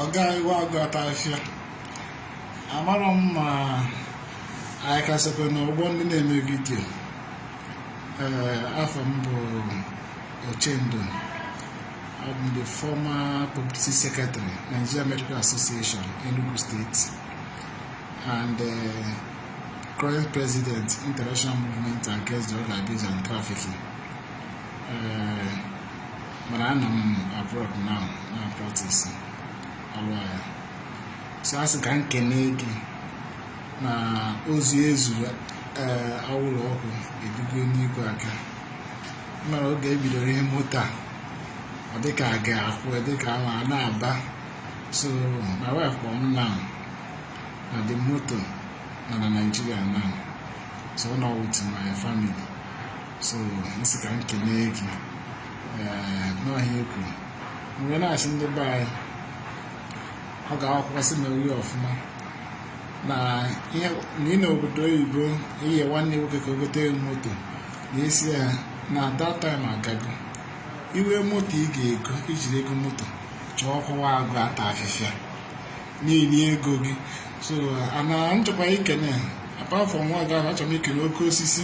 ọga iwe agụ ata afịfịa amarọ m ma anyị kasịkwa n'ụgbọ ndị na-eme vidio ee afa m bụ uchendu abụ m the former publicity secretary nigeria medical association enugu state and uh, current president international movement against drug abuse and trafficking eh, mana anọ m abroad na na practice alụ agha so a sị ka m kene gị na ozi ezuru eh, anwụrụ ọkụ erigo n'igwe aka mara oge ebidoro ihe moto a ọ dịka a ga-akwụ dịka ama a na-aba so my wife kpọrọ m na na the moto nọ na Nigeria now so ọ nọ with my family so nsị ka m kelee gị n'ihe i kwuru mgbe ị na-asị ndị be anyị ọ ga-akwụkwọ sị na ori ọfụma na ị nọ obodo oyibo i nye nwanne nwoke ka o gote moto na isi ya na that time a ga-ego ihe moto ị ga-ego i jiri ego moto chọọ ọ kwa agụ ata afịfịa niile ego gị so ana m achọkwa ikene apart from nwa gị achọrọ m ikele oke osisi